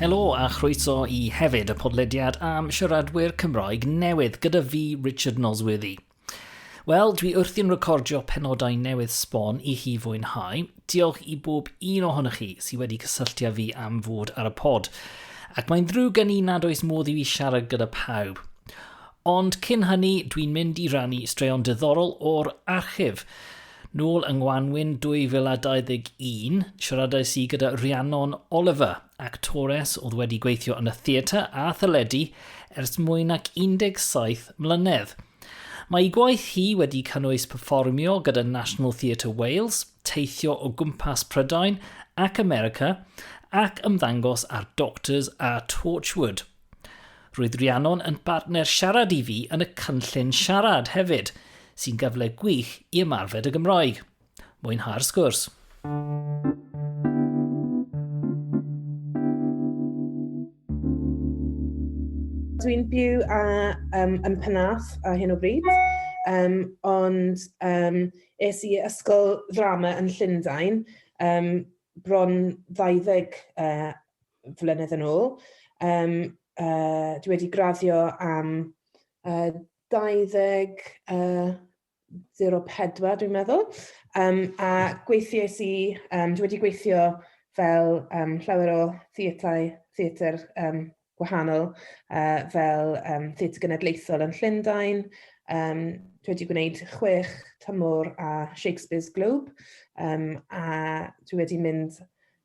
Helo a chroeso i hefyd y podlediad am siaradwyr Cymraeg newydd gyda fi Richard Nosworthy. Wel, dwi wrthi'n recordio penodau newydd sbon i chi fwynhau. Diolch i bob un ohonych chi sydd wedi cysylltu â fi am fod ar y pod. Ac mae'n ddrwg gen i nad oes modd i fi siarad gyda pawb. Ond cyn hynny, dwi'n mynd i rannu straeon diddorol o'r archif. Nôl yng ngwanwyn 2021, siaradais i gyda Rhiannon Oliver, actores oedd wedi gweithio yn y theatr a theledu ers mwy nag 17 mlynedd. Mae ei gwaith hi wedi cynnwys perfformio gyda National Theatre Wales, teithio o gwmpas Prydain ac America, ac ymddangos ar Doctors a Torchwood. Roedd Rhiannon yn bartner siarad i fi yn y cynllun siarad hefyd, sy'n gyfle gwych i ymarfer y Gymraeg. Mwynhau'r sgwrs. Dwi'n byw a, um, yn Penarth ar hyn o bryd, um, ond um, es i ysgol ddrama yn Llundain um, bron 20 uh, flynedd yn ôl. Um, uh, dwi wedi graddio am uh, 20... Uh, 04 dwi'n meddwl, um, a gweithiais i, um, dwi wedi gweithio fel um, llawer o theatau, theatr um, gwahanol, uh, fel um, theatr genedlaethol yn Llundain, um, dwi wedi gwneud chwech tymor a Shakespeare's Globe, um, a dwi wedi mynd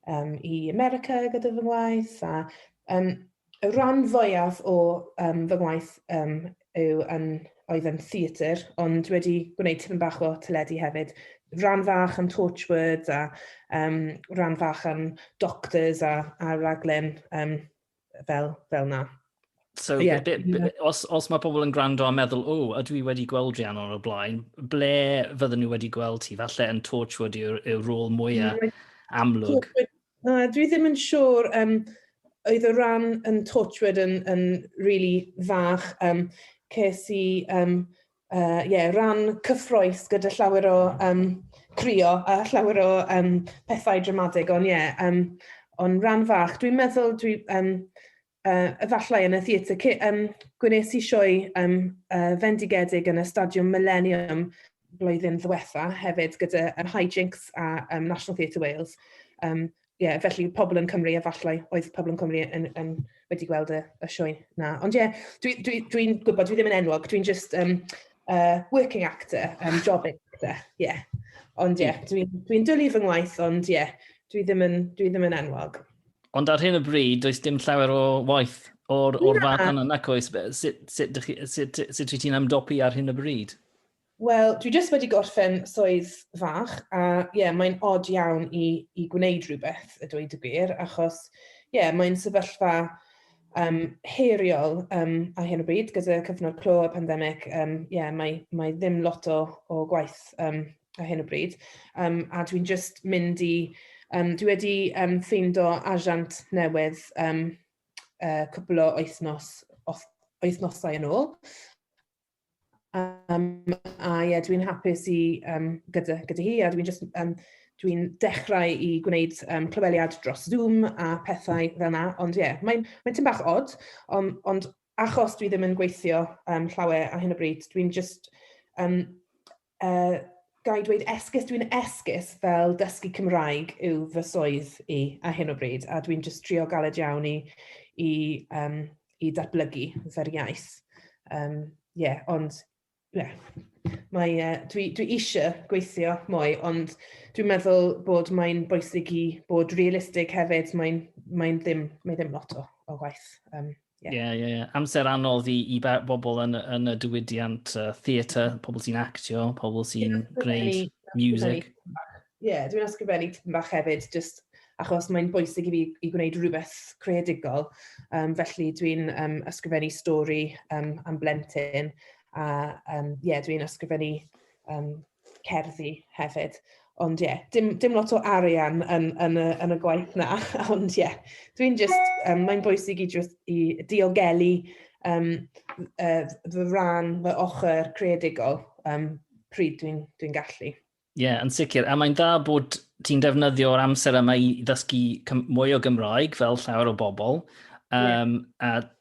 um, i America gyda fy ngwaith, a um, y rhan fwyaf o um, fy ngwaith um, yw yn, oedd yn theatr, ond wedi gwneud tipyn bach o teledu hefyd. Rhan fach yn Torchwood a um, rhan fach yn Doctors a, a raglen um, fel, fel na. So, yeah. be, be, os, os mae pobl yn gwrando a meddwl, o, oh, ydw i wedi gweld Rhiannon o'r blaen, ble fydden nhw wedi gweld ti? Falle yn Torchwood yw'r yw rôl mwyaf mm. amlwg. Na, dwi ddim yn siŵr. Um, oedd y rhan yn Torchwood yn, yn really fach. Um, ces i um, uh, yeah, ran cyffroes gyda llawer o um, crio a llawer o um, pethau dramatig, ond ie, yeah, um, ond ran fach. Dwi'n meddwl, dwi, um, uh, efallai yn y theatr, um, gwnes i sioe um, uh, fendigedig yn y stadiwm Millennium blwyddyn ddiwetha hefyd gyda um, High Jinks a um, National Theatre Wales. Um, ie, felly pobl yn Cymru, efallai oedd pobl yn Cymru yn, yn wedi gweld y, y sioe na. Ond ie, dwi'n dwi, dwi, dwi gwybod, dwi ddim yn enwog, dwi'n just um, uh, working actor, um, job actor, ie. Yeah. Ond ie, yeah, dwi'n dwi dwlu fy ngwaith, ond ie, yeah, dwi, ddim yn, dwi ddim yn enwog. Ond ar hyn o bryd, does dim llawer o waith o'r, or fath yna, nac oes? Sut, sut, sut, sut, sut ti'n amdopi ar hyn o bryd? Wel, dwi jyst wedi gorffen swydd fach, a ie, mae'n od iawn i, i gwneud rhywbeth, y dweud y gwir, achos ie, mae'n sefyllfa um, heiriol um, a hyn o bryd gyda cyfnod clo a pandemig, um, yeah, mae, mae ddim lot o, o gwaith um, a hyn o bryd. Um, a dwi'n just mynd i, um, dwi wedi um, ffeindo asiant newydd um, uh, cwpl o wythnos, wythnosau yn ôl. Um, a ie, yeah, dwi'n hapus i um, gyda, gyda hi a dwi'n just um, dwi'n dechrau i gwneud um, clyweliad dros Zoom a pethau fel yna, ond ie, yeah, mae'n mae tyn bach odd, ond, ond achos dwi ddim yn gweithio um, llawer ar hyn o bryd, dwi'n just um, Uh, ga i dweud esgus, dwi'n esgus fel dysgu Cymraeg yw fy swydd i a hyn o bryd, a dwi'n just trio galed iawn i, i, um, i datblygu fer iaith. Um, yeah, ond yeah. Mae, uh, dwi, dwi eisiau gweithio mwy, ond dwi'n meddwl bod mae'n bwysig i bod realistig hefyd, mae'n mae ddim, mae ddim lot o, o waith um, Ie, yeah. ie, yeah, yeah. amser anodd i, i bobl yn, yn y diwydiant uh, theatr, pobl sy'n actio, pobl sy'n yeah, gwneud music. Ie, yeah, dwi'n ysgrifennu tipyn bach hefyd, just achos mae'n bwysig i fi i gwneud rhywbeth creadigol. Um, felly dwi'n um, ysgrifennu stori um, am blentyn, a um, yeah, dwi'n ysgrifennu um, cerddi hefyd. Ond ie, yeah, dim, dim lot o arian yn, yn, y, yn y gwaith na. Ond ie, yeah, dwi'n just, um, mae'n bwysig i, just, i diogelu um, uh, fy rhan, fy ochr creadigol um, pryd dwi'n dwi gallu. Ie, yeah, yn sicr. A mae'n dda bod ti'n defnyddio'r amser yma i ddysgu mwy o Gymraeg fel llawer o bobl. Um, yeah. A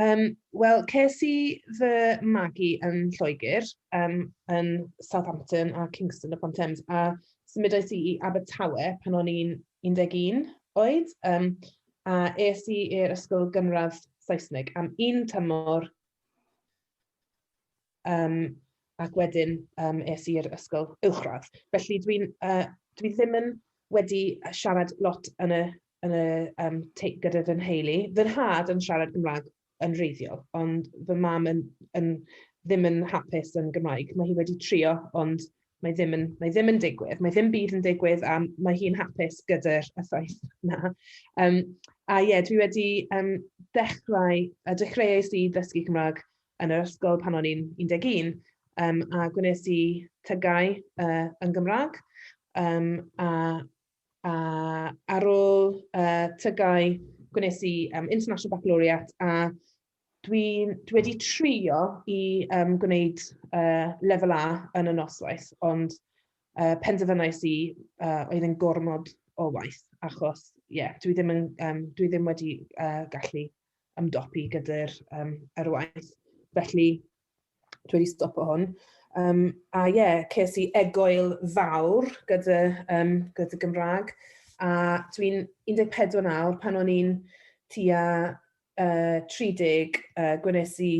Yym, wel, ces i fy magu yn Lloegr, yym, yn Southampton a Kingston upon Thames, a symudais i i Abertawe pan o'n i'n 11 oed, yym, a es i i'r ysgol gynradd Saesneg am un tymor, yym ac wedyn yym es i'r ysgol uwchradd. Felly dwi'n yy dwi ddim yn wedi yy siarad lot yn y yn y yym tei- gyda fy nheulu. Fy nhad yn siarad Cymraeg yn wreiddiol, ond fy mam yn yn ddim yn hapus yn Gymraeg. Mae hi wedi trio, ond mae ddim yn mae ddim yn digwydd. Mae ddim byd yn digwydd a mae hi'n hapus gyda'r y ffaith 'na. Yym a ie dwi wedi yym dechrau yy dechreuais i ddysgu Cymraeg yn yr ysgol pan o'n i'n 11, um, a gwnes i tygau uh, yn Gymraeg. Um, a, a ar ôl uh, tygau, gwnes i um, International Baccalaureate a dwi, dwi wedi trio i um, gwneud uh, lefel A yn y noswaith, ond uh, penderfynais i uh, oedd yn gormod o waith, achos yeah, dwi, ddim yn, um, dwi ddim wedi uh, gallu ymdopi gyda'r um, ar waith. Felly, dwi wedi stopo hwn. Um, a ie, yeah, ces i egoel fawr gyda, um, gyda Gymraeg. A dwi'n 14 nawr, pan o'n i'n tua uh, 30, uh, gwnes i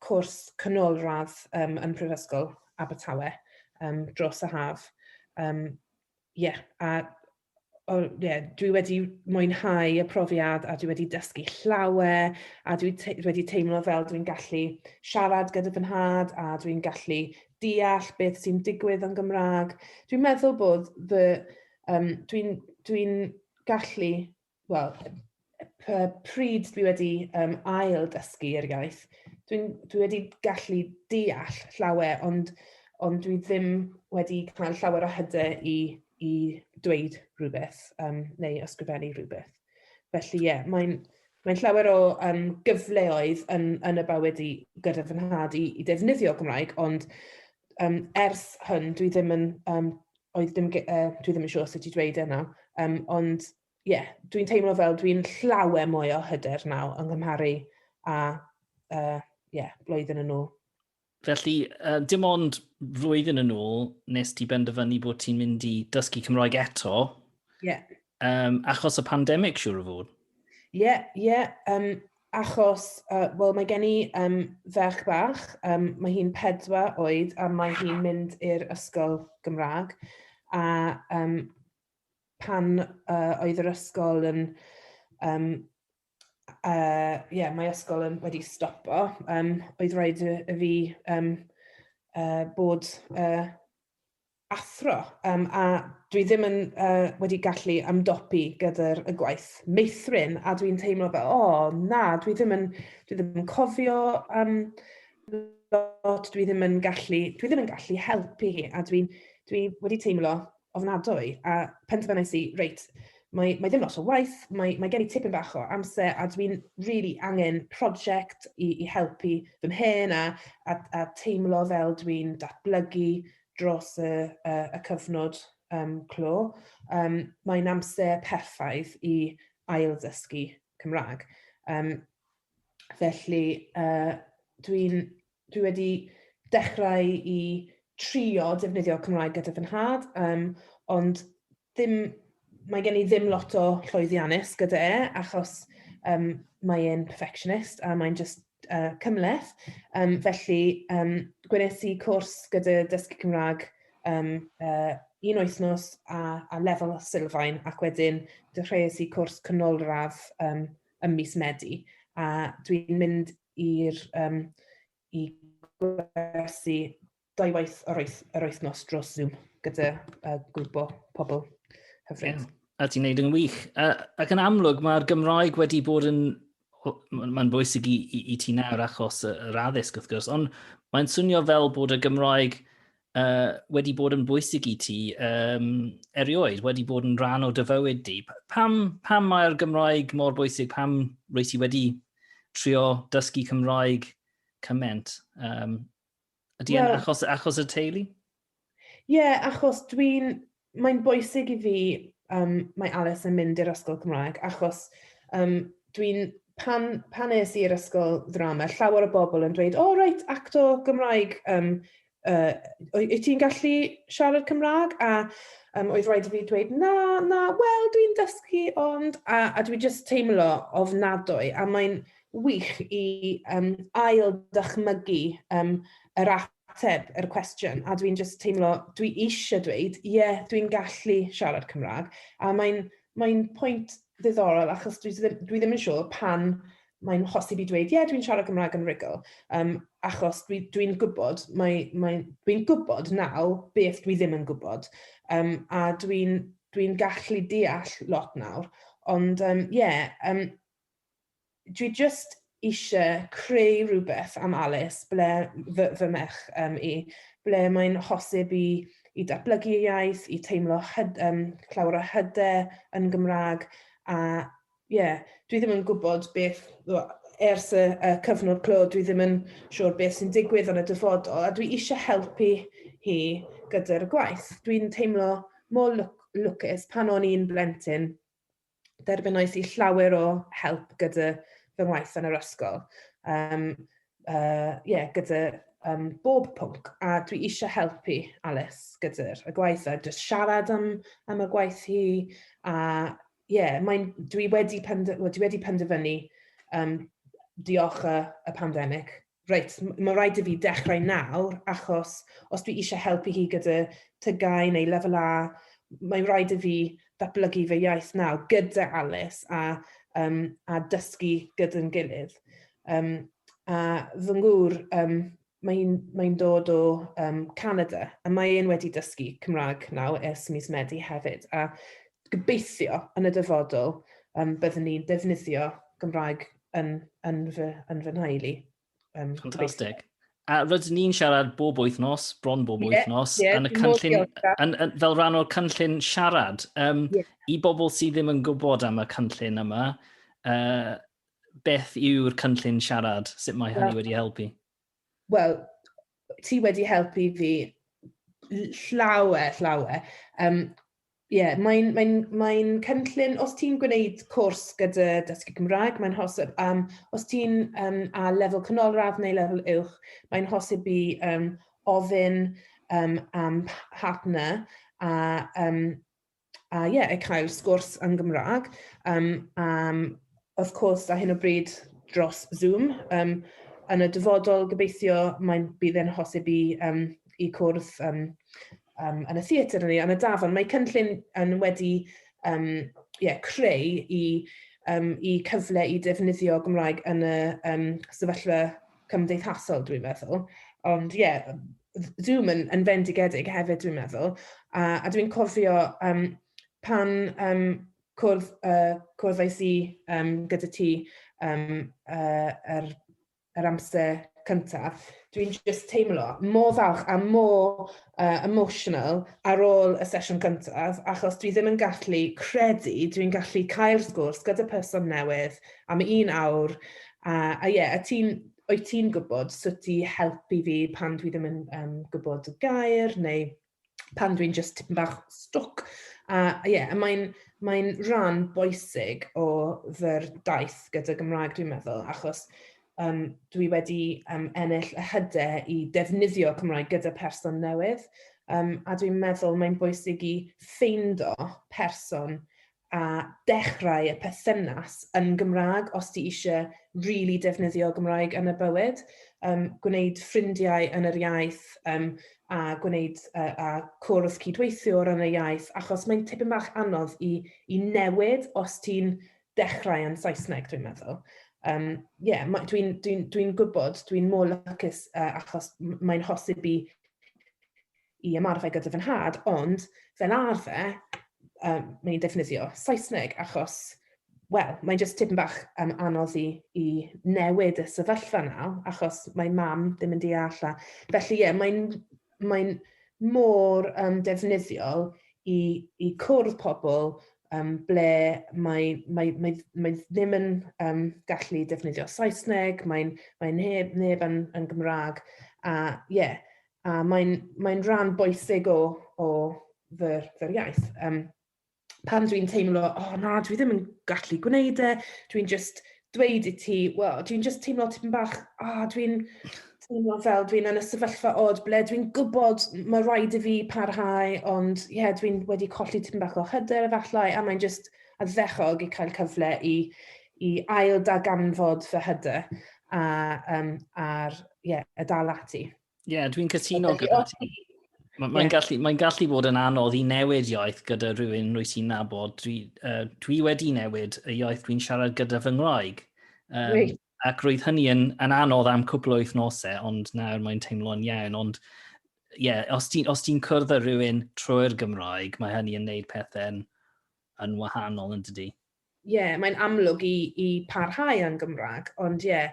cwrs canolradd um, yn Prifysgol Abertawe um, dros y haf. Um, yeah, a o, ie, dwi wedi mwynhau y profiad a dwi wedi dysgu llawer a dwi te wedi teimlo fel dwi'n gallu siarad gyda fy nhad a dwi'n gallu deall beth sy'n digwydd yn Gymraeg. Dwi'n meddwl bod fy, um, dwi'n dwi gallu, wel, pryd dwi wedi um, ail dysgu yr iaith, dwi, dwi wedi gallu deall llawer, ond, ond dwi ddim wedi cael llawer o hyde i, i dweud rhywbeth um, neu ysgrifennu rhywbeth. Felly ie, yeah, mae'n mae llawer o um, gyfleoedd yn, yn y bywyd i gyda fy nhad i, i defnyddio Gymraeg, ond um, ers hwn dwi ddim yn, um, oedd ddim, uh, dwi ddim yn siŵr sut i dweud yna, um, ond ie, dwi'n teimlo fel dwi'n llawer mwy o hyder naw yng nghymharu a uh, yeah, blwyddyn yn ôl. Felly, uh, dim ond flwyddyn yn ôl nes ti benderfynu bod ti'n mynd i dysgu Cymroeg eto. Ie. Yeah. Um, achos y pandemig, siwr o fod. Ie, yeah, ie. Yeah. Um, achos, uh, wel, mae gen i um, ferch bach, um, mae hi'n pedwar oed a mae hi'n mynd i'r ysgol Gymraeg. A um, pan uh, oedd yr ysgol yn... Um, uh, yeah, mae ysgol yn wedi stopo, um, oedd rhaid y, y fi um, uh, bod uh, athro, um, a dwi ddim yn uh, wedi gallu amdopi gyda'r y gwaith meithrin, a dwi'n teimlo fel, o, oh, na, dwi ddim yn, dwi ddim yn cofio um, lot, dwi ddim yn gallu, dwi ddim yn gallu helpu hi, a dwi'n dwi wedi teimlo ofnadwy, a penderfynais i, reit, mae, mae ddim lot o waith, mae, mae gen i tipyn bach o amser a dwi'n really angen prosiect i, i helpu fy mhen a, a, a teimlo fel dwi'n datblygu dros y, y, y cyfnod um, clo. Um, mae'n amser perffaith i ail ddysgu Cymraeg. Um, felly, uh, dwi'n Dwi wedi dechrau i trio defnyddio Cymraeg gyda fy nhad, um, ond ddim, mae gen i ddim lot o llwyddiannus gyda e, achos um, mae e'n perfectionist a mae'n just uh, cymleth. Um, felly, um, gwnes i cwrs gyda Dysgu Cymraeg um, uh, un wythnos a, a lefel o sylfaen ac wedyn dechreuais i cwrs canolradd um, ym mis Medi. A dwi'n mynd i'r um, i gwersi dau waith yr, oeth, yr wythnos dros Zoom gyda uh, grwp o pobl hyfryd. Yeah. A ti'n neud yn wych. Uh, ac yn amlwg, mae'r Gymraeg wedi bod yn... Mae'n bwysig i, i, i ti nawr achos yr addysg, wrth gwrs, ond mae'n swnio fel bod y Gymraeg uh, wedi bod yn bwysig i ti um, erioed, wedi bod yn rhan o dy fywyd di. Pam, pam mae'r Gymraeg mor bwysig? Pam rwy ti wedi trio dysgu Cymraeg cyment? Um, ydy well, achos, achos y teulu? Ie, yeah, achos dwi'n Mae'n bwysig i fi, um, mae Alice yn mynd i'r ysgol Cymraeg, achos um, dwi'n pan, pan es i'r ysgol ddrama, llawer o bobl yn dweud, o, oh, reit, acto Gymraeg, um, uh, wyt ti'n gallu siarad Cymraeg? A um, oedd rhaid i fi dweud, na, na, wel, dwi'n dysgu, ond, a, a dwi jyst teimlo ofnadwy, a mae'n wych i um, ail dychmygu um, yr app ateb yr cwestiwn a dwi'n just teimlo dwi eisiau dweud ie yeah, dwi'n gallu siarad Cymraeg a mae'n mae pwynt ddiddorol achos dwi, dwi ddim yn siŵr pan mae'n hosi fi dweud ie yeah, dwi'n siarad Cymraeg yn rigol um, achos dwi'n dwi, dwi gwybod mae, mae, dwi'n gwybod naw beth dwi ddim yn gwybod um, a dwi'n dwi gallu deall lot nawr ond ie um, yeah, um, dwi jyst eisiau creu rhywbeth am Alice, ble fy, fy merch um, i, ble mae'n hosib i, i datblygu ei iaith, i teimlo hyd, um, llawer o hyder yn Gymraeg, a ie, yeah, dwi ddim yn gwybod beth, ers y, y cyfnod clo, dwi ddim yn siŵr beth sy'n digwydd yn y dyfodol, a dwi eisiau helpu hi gyda'r gwaith. Dwi'n teimlo mor lwcus pan o'n i'n blentyn, derbynnais i llawer o help gyda fy ngwaith yn yr ysgol. Um, uh, yeah, gyda um, bob pwnc, a dwi eisiau helpu Alice gyda'r y gwaith, a just siarad am, am y gwaith hi, a yeah, mae'n, dwi wedi, pend, well, dwi wedi penderfynu um, diolch y, y pandemig reit, mae'n rhaid i fi dechrau nawr, achos os dwi eisiau helpu hi gyda tygau neu lefel A, mae'n rhaid i fi ddatblygu fy iaith nawr gyda Alice a, um, a dysgu gyda'n gilydd. Um, a fy ngŵr, um, mae'n mae dod o um, Canada, a mae e'n wedi dysgu Cymraeg nawr ers mis Medi hefyd, a gobeithio yn y dyfodol um, byddwn ni'n defnyddio Gymraeg yn, yn, fy, yn fy nhael i. Um, Fantastic. A rydyn ni'n siarad bob wythnos, bron bob yeah, wythnos, yeah, yn y cynllun, yn, yn, fel rhan o'r cynllun siarad. Um, yeah. I bobl sydd ddim yn gwybod am y cynllun yma, uh, beth yw'r cynllun siarad? Sut mae hynny wedi helpu? wel, ti wedi helpu fi llawer, llawer. Um, Ie, yeah, mae'n mae mae cynllun, os ti'n gwneud cwrs gyda dysgu Cymraeg, mae'n hosib, um, os ti'n um, a lefel canolradd neu lefel uwch, mae'n hosib i um, ofyn um, am partner a um, a ie, yeah, cael sgwrs yn Gymraeg. Um, um, of course, a hyn o bryd dros Zoom. Um, yn y dyfodol, gobeithio, mae'n bydd e'n hosib i, um, i cwrdd um, um, yn y theatr yn ei, yn y dafon. Mae cynllun yn wedi um, yeah, creu i, um, i cyfle i defnyddio Gymraeg yn y um, sefyllfa cymdeithasol dwi'n meddwl. Ond ie, yeah, Zoom yn, yn fendigedig hefyd dwi'n meddwl. A, a dwi'n cofio um, pan um, cwrdd, uh, cwrddais i um, gyda ti um, uh, er, er amser cyntaf, dwi'n just teimlo mor falch a mor uh, emotional ar ôl y sesiwn gyntaf, achos dwi ddim yn gallu credu, dwi'n gallu cael sgwrs gyda person newydd am un awr, A a ie, a ti'n, wyt ti'n gwybod sut i helpu fi pan dwi ddim yn um, gwybod y gair neu pan dwi'n just tipyn bach stwc. A ie, yeah, mae'n mae rhan boesig o fy'r daith gyda Gymraeg dwi'n meddwl, achos um, dwi wedi um, ennill y hyde i defnyddio Cymraeg gyda person newydd, um, a dwi'n meddwl mae'n bwysig i ffeindo person a dechrau y perthynas yn Gymraeg os ti eisiau really defnyddio Gymraeg yn y bywyd, um, gwneud ffrindiau yn yr iaith um, a gwneud uh, a cwrdd cydweithiwr yn y iaith, achos mae'n tipyn bach anodd i, i newid os ti'n dechrau yn Saesneg, dwi'n meddwl. Um, yeah, dwi'n dwi, dwi, dwi gwybod, dwi'n mor lycus uh, achos mae'n hosib i i ymarfer gyda fy nhad, ond fel arfer, um, mae'n i'n defnyddio Saesneg, achos, wel, mae'n just tipyn bach um, anodd i, i newid y sefyllfa na, achos mae mam ddim yn deall. A, felly, ie, yeah, mae'n mae mor um, defnyddiol i, i cwrdd pobl um, ble mae, mae, mae, mae ddim yn um, gallu defnyddio Saesneg, mae'n mae neb, neb yn, yn Gymraeg, a ie, yeah, A mae'n mae rhan bwysig o, o fy, fy iaith. Um, pan dwi'n teimlo, o oh, na, dwi ddim yn gallu gwneud e, dwi'n just dweud i ti, well, dwi'n just teimlo tipyn bach, a oh, dwi'n teimlo fel dwi'n yn y sefyllfa od ble dwi'n gwybod mae rhaid i fi parhau, ond ie, yeah, dwi'n wedi colli tipyn bach o hyder efallai, a mae'n just addechog i cael cyfle i, i ail daganfod fy hyder a, um, ar, ie, yeah, y dal ati. Ie, yeah, dwi'n cytuno gyda ti. Mae'n yeah. gallu, mae gallu bod yn anodd i newid iaith gyda rhywun rwy ti'n nabod. Dwi, uh, dwi wedi newid y iaith dwi'n siarad gyda fy ngwraig. Um, right. Ac roedd hynny yn, yn anodd am cwpl o wythnosau, ond nawr mae'n teimlo'n iawn. Ond ie, yeah, os ti'n ti cwrdd â rhywun trwy'r Gymraeg, mae hynny yn neud pethau'n yn wahanol yn dydy. ie, mae'n amlwg i, i parhau yn Gymraeg, ond ie,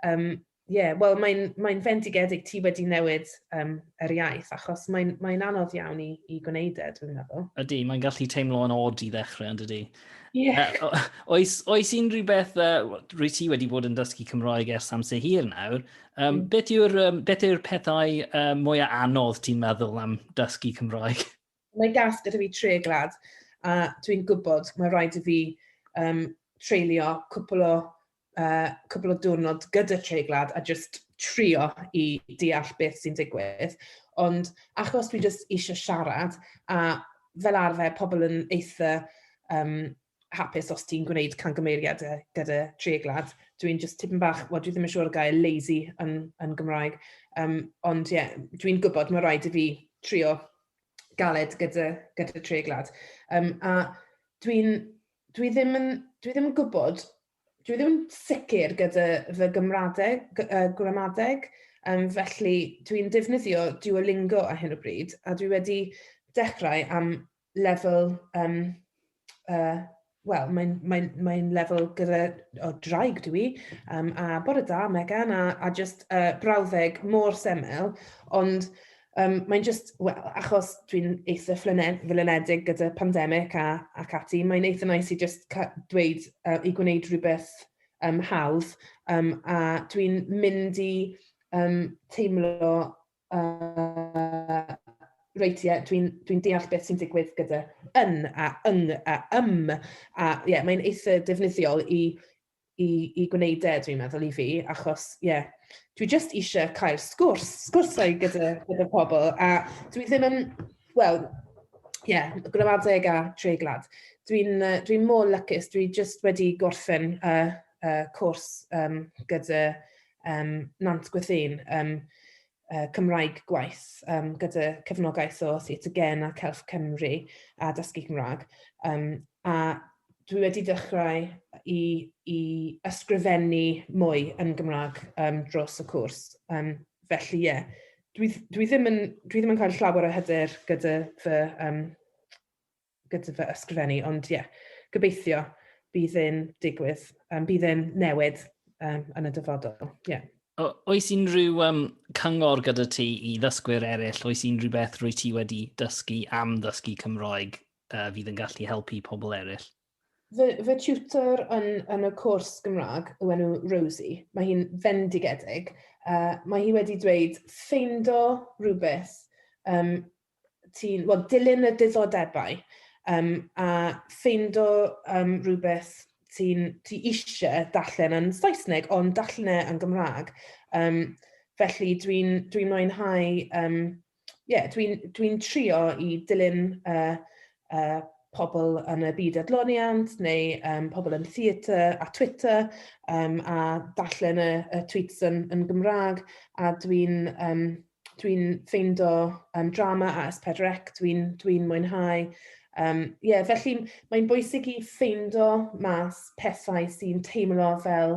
um, ie, wel mae'n mae fendigedig ti wedi newid um, yr iaith, achos mae'n mae anodd iawn i, i gwneud e, dwi'n meddwl. Ydy, mae'n gallu teimlo yn od i ddechrau, ond ydy. Yeah. Uh, oes, oes unrhyw beth, uh, rwy ti wedi bod yn dysgu Cymraeg ers amser hir nawr, um, mm. beth yw'r um, yw pethau uh, mwyaf anodd ti'n meddwl am dysgu Cymraeg? Mae gas gyda fi tre glad, a dwi'n gwybod mae rhaid i fi um, treulio cwpl o, uh, cwpl o diwrnod gyda tre glad a just trio i deall beth sy'n digwydd. Ond achos dwi just eisiau siarad, a fel arfer pobl yn eitha um, hapus os ti'n gwneud cangymeriadau gyda treiglad. Dwi'n just tipyn bach, wel dwi ddim yn siŵr o gael lazy yn, yn Gymraeg, um, ond ie, yeah, dwi'n gwybod mae rhaid i fi trio galed gyda, gyda treiglad. Um, a dwi'n, dwi ddim yn, dwi ddim yn gwybod, dwi ddim yn sicr gyda fy gymradeg, uh, gramadeg, um, felly dwi'n defnyddio Duolingo a hyn o bryd, a dwi wedi dechrau am lefel um, uh, wel, mae'n mae, mae lefel gyda o draig dwi, um, a bod y da, Megan, a, a just uh, brawddeg mor semel, ond um, mae'n just, well, achos dwi'n eitha flynedig gyda pandemig a, ac ati, mae'n eitha nice i just dweud, uh, i gwneud rhywbeth um, hawdd, um, a dwi'n mynd i um, teimlo Yy reit ie dwi'n dwi'n deall beth sy'n digwydd gyda yn a yng a ym a ie yeah, mae'n eitha defnyddiol i i i gwneud e dwi'n meddwl i fi achos ie yeah, dwi jyst eisiau cael sgwrs sgwrsau gyda gyda pobl a dwi ddim yn wel ie yeah, gramadeg a treiglad dwi'n uh, dwi'n mor lycus dwi jyst wedi gorffen uh, uh, cwrs um, gyda um, Nant Gwethyn, um, uh, Cymraeg gwaith um, gyda cefnogaeth o Theatre Gen a Celf Cymru a Dysgu Cymraeg. Um, a dwi wedi dechrau i, i ysgrifennu mwy yn Gymraeg um, dros y cwrs. Um, felly, ie, yeah, dwi, dwi, ddim yn, dwi ddim yn cael llawer o hyder gyda fy um, gyda fy ysgrifennu, ond ie, yeah, gobeithio bydd e'n digwydd, um, bydd e'n newid um, yn y dyfodol. Yeah. O, oes unrhyw um, cyngor gyda ti i ddysgwyr eraill? Oes unrhyw beth rwy ti wedi dysgu am ddysgu Cymroeg uh, fydd yn gallu helpu pobl eraill? Fy, fy tutor yn, yn y cwrs Gymraeg yw enw Rosie. Mae hi'n fendigedig. Uh, mae hi wedi dweud ffeindo rhywbeth um, ti'n, wel, dilyn y diddordebau um, a ffeindo um, rhywbeth ti'n ti eisiau darllen yn Saesneg, ond darllen e yn Gymraeg. Um, felly dwi'n dwi mwynhau, um, yeah, dwi'n dwi trio i dilyn uh, uh, pobl yn y byd adloniant neu um, pobl yn theatr a Twitter um, a darllen y, y tweets yn, yn Gymraeg a dwi'n um, dwi'n ffeindo um, drama a S4C, dwi'n dwi mwynhau. Um, yeah, felly mae'n bwysig i ffeindo mas pethau sy'n teimlo fel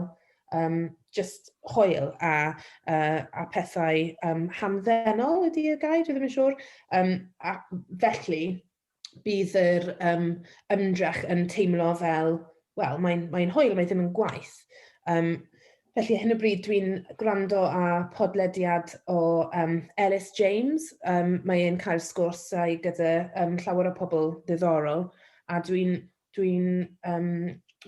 um, just hoel a, uh, a pethau um, hamddenol ydy y gair, dwi'n ddim yn siŵr. Um, a felly, bydd yr um, ymdrech yn teimlo fel, wel, mae'n mae hwyl, mae ddim yn gwaith. Um, felly, hyn o bryd dwi'n gwrando â podlediad o um, Ellis James. Um, mae e'n cael sgwrsau gyda um, llawer o pobl ddiddorol, a dwi'n dwi'n um,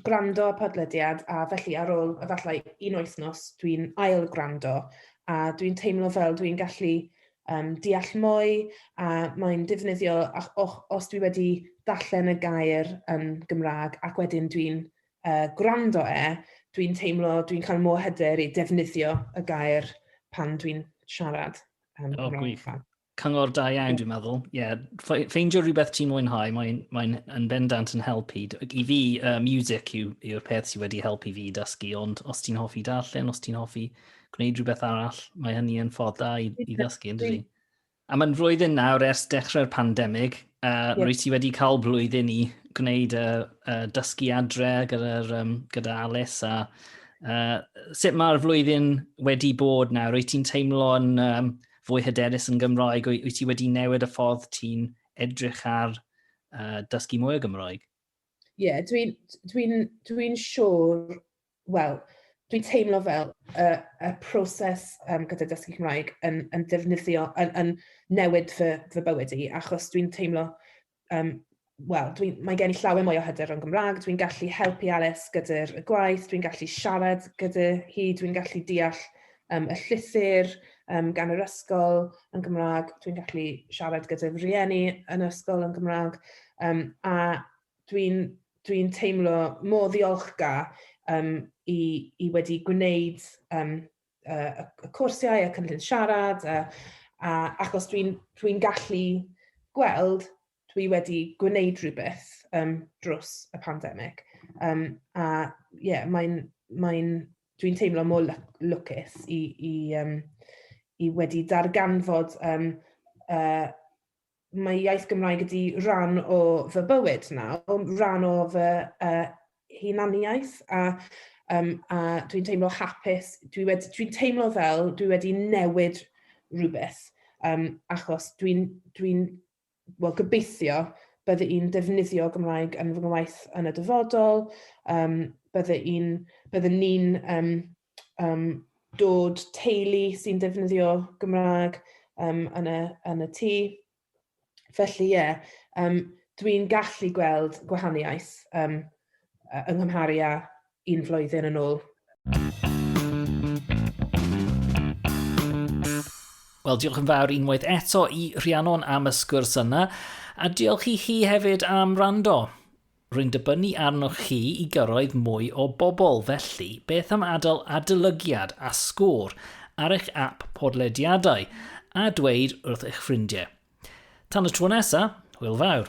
gwrando podlediad a felly ar ôl efallai un wythnos dwi'n ail gwrando a dwi'n teimlo fel dwi'n gallu um, deall mwy a mae'n defnyddio os dwi wedi darllen y gair um, Gymraeg ac wedyn dwi'n uh, gwrando e, dwi'n teimlo, dwi'n cael mwy hyder i defnyddio y gair pan dwi'n siarad. Um, oh, gwych. Cyngor da iawn, dwi'n meddwl. Ie, yeah. ffeindio rhywbeth ti'n mwynhau, mae'n mae yn bendant yn helpu. I fi, uh, music yw'r yw peth sydd wedi helpu fi dysgu, ond os ti'n hoffi darllen, os ti'n hoffi gwneud rhywbeth arall, mae hynny yn ffordd da i, i ddysgu, yn dydi? A mae'n flwyddyn nawr ers dechrau'r pandemig, a uh, yeah. rwyt ti wedi cael blwyddyn i gwneud y uh, uh, dysgu adre gyda, um, gyda Alice a uh, sut mae'r flwyddyn wedi bod nawr? Rwyt ti'n teimlo'n um, fwy hyderus yn Gymraeg? Wyt ti wedi newid y ffordd ti'n edrych ar uh, dysgu mwy o Gymraeg? Ie, yeah, dwi'n dwi dwi siŵr, wel, dwi'n teimlo fel y, y proses um, gyda dysgu Cymraeg yn, yn defnyddio, yn, yn newid fy, fy bywyd i, achos dwi'n teimlo Um, Wel, mae gen i llawer mwy o hyder o'n Gymraeg, dwi'n gallu helpu Alice gyda'r gwaith, dwi'n gallu siarad gyda hi, dwi'n gallu deall um, y llythyr um, gan yr ysgol yn Gymraeg, dwi'n gallu siarad gyda rhieni yn yr ysgol yn Gymraeg, um, a dwi'n dwi teimlo mor ddiolchgar um, i, i wedi gwneud um, uh, y cwrsiau, y cynllun siarad, a, a achos dwi'n dwi gallu gweld dwi wedi gwneud rhywbeth um, drws y pandemig. Um, a ie, yeah, mae'n, mae dwi'n teimlo mor lwcus i, i, um, i wedi darganfod um, uh, mae iaith Gymraeg ydi rhan o fy bywyd nawr, rhan o fy uh, hunaniaeth a, um, a dwi'n teimlo hapus, dwi'n dwi, dwi teimlo fel dwi wedi newid rhywbeth um, achos dwi'n dwi, well, gobeithio bydde i'n defnyddio Gymraeg yn fy ngwaith yn y dyfodol, um, bydde i'n, bydde ni'n um, um, dod teulu sy'n defnyddio Gymraeg um, yn, y, yn y tŷ. Felly ie, yeah, um, dwi'n gallu gweld gwahaniaeth um, yng Nghymharu â un flwyddyn yn ôl. Wel, diolch yn fawr unwaith eto i Rhiannon am y sgwrs yna, a diolch i chi hefyd am rando. Rwy'n dibynnu arnoch chi i gyrraedd mwy o bobl, felly beth am adael adolygiad a sgôr ar eich ap podlediadau a dweud wrth eich ffrindiau. Tan y tro nesa, hwyl fawr!